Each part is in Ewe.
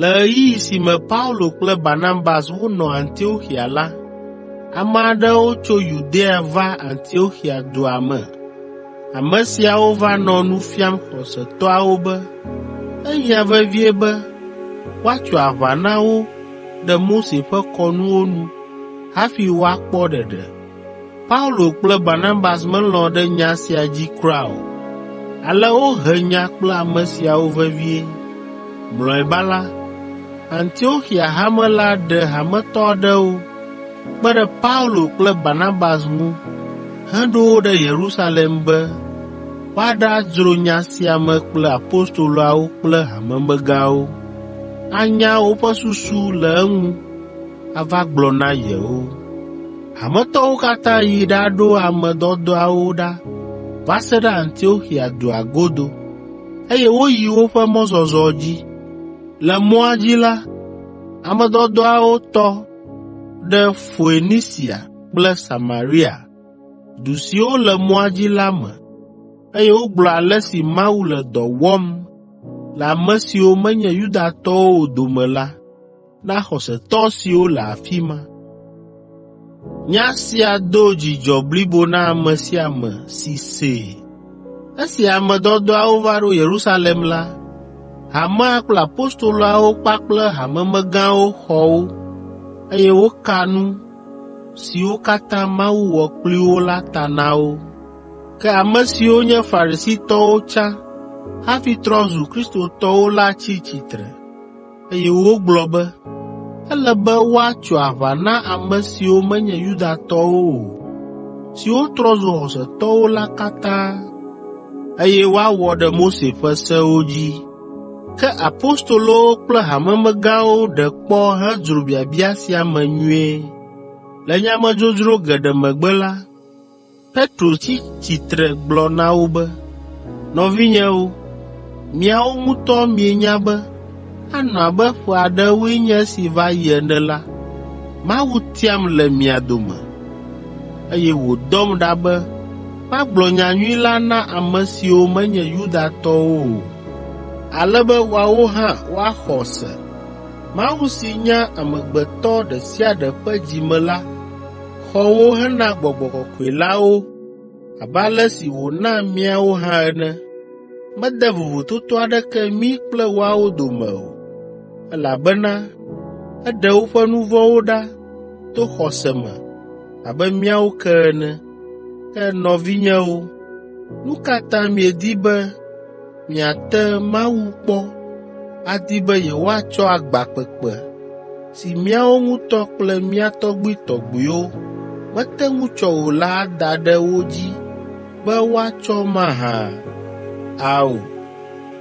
Le ɣeyiɣi si me Paulo kple Barnabas wonɔ Antioxia la, ame aɖewo tso Yudea va Antioxia dua me Ame siawo va nɔ nu fiam xɔsetɔawo be ehiã vevie be woatso aʋa na wo ɖe Mose ƒe kɔnuwo nu hafi woakpɔ ɖeɖe. Paulo kple Barnabas melɔ̃ ɖe nya sia dzi kura o, ale wohe nya kple ame siawo vevie. Mlɔeba la, Antioxia Hame la ɖe hametɔ aɖewo kpe ɖe Paulo kple Barnabas ŋu heɖo wo ɖe Yerusalem be woaɖadzro nya sia me kple apostoloawo kple hamemegãwo, anya woƒe susu le eŋu ava gblɔ na yewo. Hametɔwo katã yi ɖaɖo ame dɔdɔawo ɖa va se ɖe Antioxia dua godo, eye woyi woƒe mɔzɔzɔ dzi. Le mɔa dzi la, ame dɔdɔawo tɔ ɖe Foenisia kple Samaria, du siwo le mɔa dzi la me, eye wogblɔ ale si Mawu le dɔ wɔm le ame siwo menye Yudatɔwo o dome la na xɔsetɔ siwo le afi ma. Nya sia do dzidzɔ blibo na ame sia ame si see. Esi ame dɔdɔawo va ɖo Yerusalem la, hamea kple apostoloawo kpakple hamemegãwo xɔ wo, eye woka nu siwo katã Mawu wɔ kpli wo la ta na wo. Ke ame siwo nye Farisitɔwo tsã hafi trɔ zu Kristotɔwo la tsi tsitre, eye wogblɔ be ele be woatso aʋa na ame siwo menye Yudatɔwo o, siwo trɔ zu xɔsetɔwo la katã, eye woawɔ ɖe Mose ƒe sewo dzi. Ke apostolowo kple hamemegãwo ɖe kpɔ hedzro biabia sia me nyuie. Le nyamedzodzro geɖe megbe la, Petro tsi tsitre gblɔ na wo be, “Nɔvinyewo, miawo ŋutɔ mienya be anɔ abe ƒe aɖewoe nye esi va yi ene la, Mawu tiam le mia dome, eye wòdɔm ɖa be magblɔ nyanyui la na ame siwo menye Yudatɔwo o, ale be woawo hã woaxɔ se. Mawu si nya amegbetɔ ɖe sia ɖe ƒe dzi me la xɔ wo hena gbɔgbɔ kɔkɔe la wo abe ale si wòna míawo hã ene. Mede vovototo aɖeke mí kple woawo dome o, elabena eɖe woƒe nu vɔ̃wo ɖa to xɔse me abe míawo ke ene. Ke nɔvinyewo, nu ka ta miedi be miate Mawu kpɔ adi be yewoatsɔ agba kpekpe, si míawo ŋutɔ kple mía tɔgbuitɔgbuiwo mete ŋu tsɔ o la ada ɖe wo dzi be woatsɔ mahã? Ao,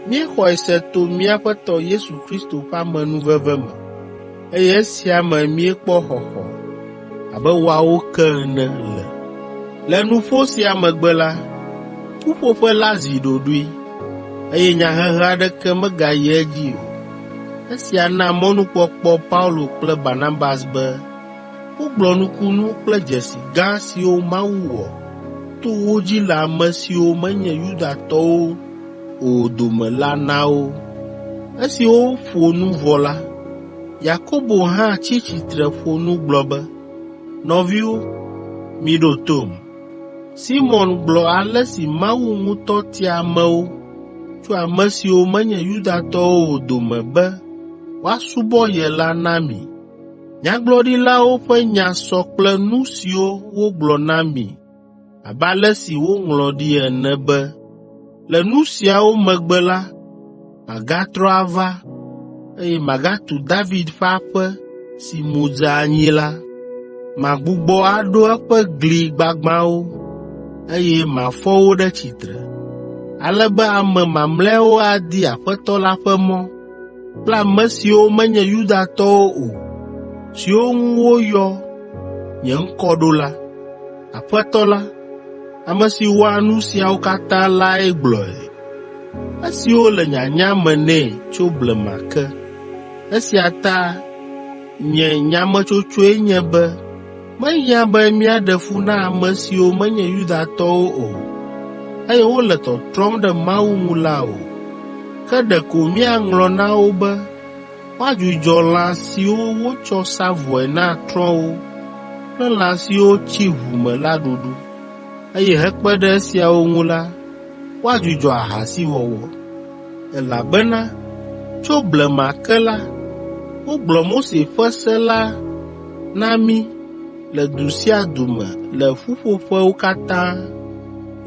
míexɔe se to mía Aƒetɔ Yesu Kristo ƒe amenuveve me. eye esia me míekpɔ xɔxɔ abe woawo ke ene le. Le nuƒo sia megbe la, ƒuƒoƒe la zi ɖoɖoe, eye nyahehe aɖeke megayi edzi o. Esia na mɔnukpɔkpɔ Paulo kple Barnabas be wogblɔ nukunu kple dzesi gã siwo Mawu wɔ to wo dzi le ame siwo menye Yudatɔwo o dome la na wo. Esi woƒo nu vɔ la, Yakobo hã tsi tsitre ƒo nu gblɔ be, “Nɔviwo, miɖo tom. Simɔn gblɔ ale si Mawu ŋutɔ tia amewo tso ame siwo menye Yudatɔwo o dome be woasubɔ ye la na mi. Nyagblɔɖilawo ƒe nya sɔ kple nu siwo wogblɔ na mi abe ale si woŋlɔ ɖi ene be, “Le nu siawo megbe la, magatrɔ ava, eye magatu David ƒe aƒe si mu dze anyi la. Magbugbɔ aɖo eƒe gli gbagbãwo, eye mafɔ wo ɖe tsitre, ale be ame mamlɛawo adi Aƒetɔ la ƒe mɔ. kple ame siwo menye Yudatɔwo o, siwo ŋu woyɔ nye ŋkɔ ɖo la, Aƒetɔ la, ame si wɔa nu siawo katã lae gblɔe, esiwo le nyanya me nɛ tso blema ke. Esia ta nye nyametsotsoe nye be Mehiã be míaɖe fu na ame siwo menye Yudatɔwo o, eye wole tɔtrɔm ɖe Mawu ŋu la o. Ke ɖeko míaŋlɔ na wo be woadzudzɔ lã siwo wotsɔ sa vɔe na trɔ̃wo kple lã siwo tsi ʋu me la ɖuɖu, eye hekpe ɖe esiawo ŋu la, woadzudzɔ ahasiwɔwɔ. Elabena tso blema ke la, wogblɔ Mose ƒe se la na mí le du sia du me le ƒuƒoƒewo katã,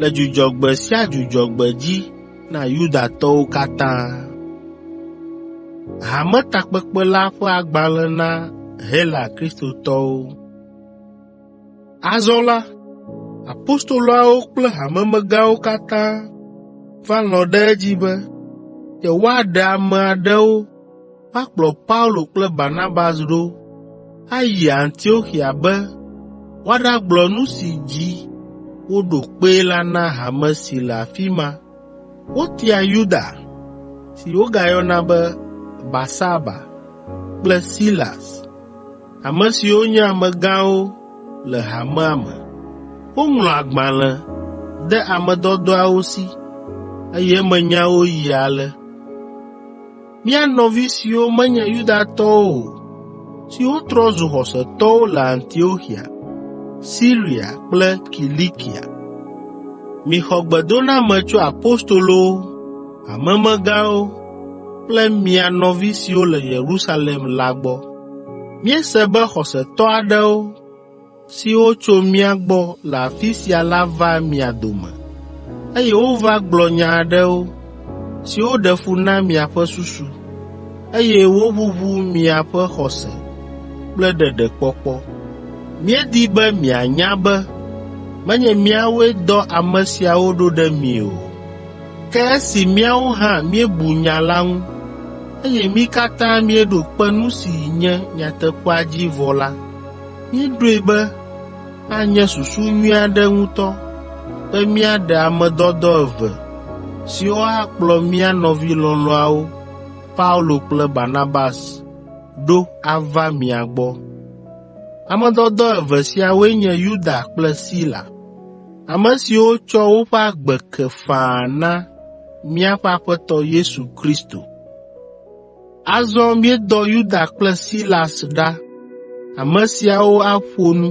le Dzudzɔgbe sia Dzudzɔgbe dzi na Yudatɔwo katã. Hametakpekpe la ƒe agbalẽ na Hela Kristotɔwo Azɔ la, apostoloawo kple hamemegãwo katã va lɔ̃ ɖe edzi be yewoaɖe ame aɖewo woakplɔ Paulo kple Barnabas ɖo ayi Antioxia be woaɖagblɔ nu si dzi woɖo kpee la na hame si le afi ma. Wotia Yuda, si wogayɔna be Barsaba kple Silas, ame siwo nye amegãwo le hamea me. Woŋlɔ agbalẽ de ame dɔdɔawo si, eye eme nyawo yi ale: Mía nɔvi siwo menye Yudatɔwo o, siwo trɔ zu xɔsetɔwo le Antioxia, Siria kple Kilikia, mixɔ gbedoname tso apostolowo, hamemegãwo kple mia nɔvi siwo le Yerusalem la gbɔ. Míese be xɔsetɔ aɖewo siwo tso mía gbɔ le afi sia la va mia dome, eye wova gblɔ nya aɖewo, siwo ɖe fu na miaƒe susu, eye woʋuʋu miaƒe xɔse kple ɖeɖekpɔkpɔ. Míedi be mianya be menye míawoe dɔ ame siawo ɖo ɖe mi o, ke esi míawo hã míebu nya la ŋu, eye mí katã míeɖo kpe nu si nye nyateƒea dzi vɔ la, Míeɖoe be anye susu nyui aɖe ŋutɔ be míaɖe ame dɔdɔ eve siwo akplɔ mía nɔvi lɔlɔ̃awo, Paulo kple Barnabas, ɖo ava mia gbɔ. Ame dɔdɔ eve siawoe nye Yuda kple Sila, ame siwo tsɔ woƒe agbe ke faa na míaƒe Aƒetɔ Yesu Kristo. Azɔ míedɔ Yuda kple Silas ɖa. Ame siawo aƒo nu,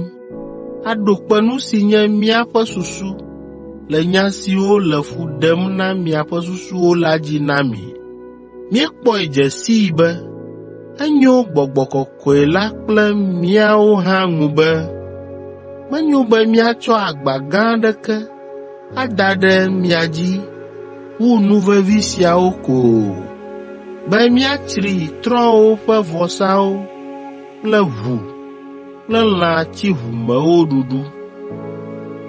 aɖo kpe nu si nye míaƒe susu le nya siwo le fu ɖem na miaƒe susuwo la dzi na mi. Míekpɔe dze sii be enyo Gbɔgbɔ kɔe la kple míawo hã ŋu be menyo be míatsɔ agba gã aɖeke ada ɖe mia dzi wu nu vevi siawo ko o, be míatsri trɔ̃wo ƒe vɔsawo kple ʋu kple lã tsiʋumewo ɖuɖu,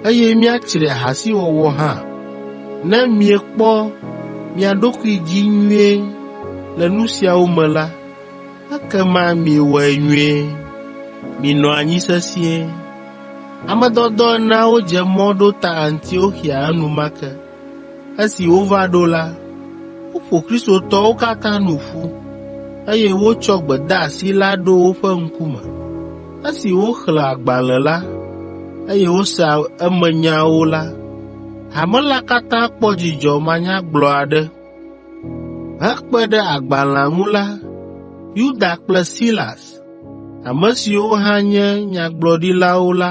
eye míatsri ahasiwɔwɔ hã, ne miekpɔ mia ɖokui dzi nyuie le nu siawo me la, Ekema miewɔe nyuie, minɔ anyi sesĩe. Ame dɔdɔ eneawo dze mɔ ɖo ta Antioxia enumake. Esi wova ɖo la, woƒo Kristotɔwo katã nu ƒu, eye wotsɔ gbedeasi la ɖo woƒe ŋkume. Esi woxlẽ agbalẽ la, eye wose emenyawo la, hame la katã kpɔ dzidzɔ manyagblɔ aɖe. Hekpe ɖe agbalẽa ŋu la, Yuda kple Silas, ame siwo hã nye nyagblɔɖilawo la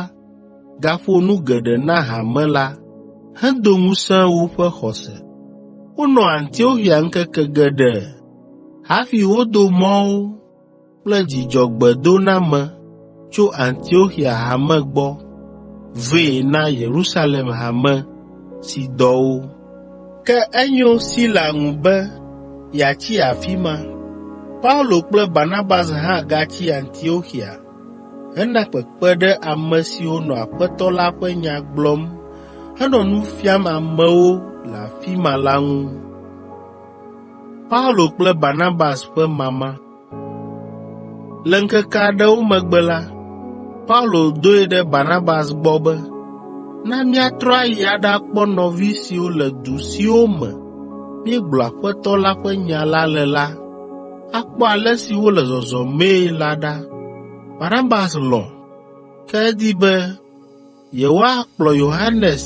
gaƒo nu geɖe na hame la hedo ŋusẽ woƒe xɔse. Wonɔ Antioxia ŋkeke geɖe hafi wodo mɔ wo kple dzidzɔgbedoname tso Antioxia Hame gbɔ vɛ na Yerusalem Hame si dɔ wo. Ke enyo Sila ŋu be yeatsi afi ma. Paulo kple Barnabas hã gatsi Antioxia hena kpekpe ɖe ame siwo nɔ Aƒetɔ la ƒe nya gblɔm henɔ nu fiam amewo le afi ma la ŋu. Le ŋkeke aɖewo megbe la, Paulo doe ɖe Barnabas gbɔ be, “Na míatrɔ ayi aɖakpɔ nɔvi siwo le du siwo me míegblɔ Aƒetɔ la ƒe nya la le la, akpɔ ale si wole zɔzɔmee la ɖa.” Barnabas lɔ̃, ke edi be Yewoakplɔ Yohanes,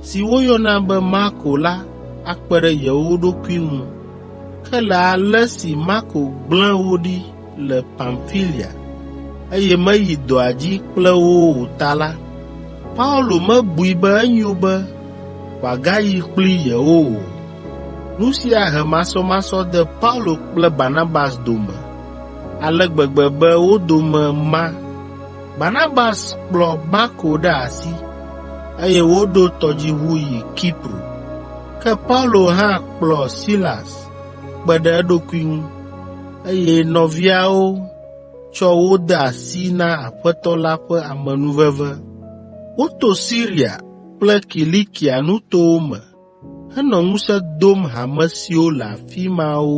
si woyɔna be Marko la akpe ɖe yewo ɖokui ŋu. Ke le ale si Marko gblẽ wo ɖi le Pamfilia, eye meyi dɔa dzi kple wo o ta la, Paulo mebui be enyo be wòagayi kpli yewo o. Nu sia he masɔmasɔ de Paulo kple Barnabas dome ale gbegbe be wo dome ma. Barnabas kplɔ Marko ɖe asi, eye woɖo tɔdziʋu yi Kipro. Ke Paulo hã kplɔ Silas kpe ɖe eɖokui ŋu, eye nɔviawo tsɔ wo de asi na Aƒetɔ la ƒe amenuveve. Woto Siria kple Kilikia nutowo me henɔ ŋusẽ dom hame siwo le afi mawo.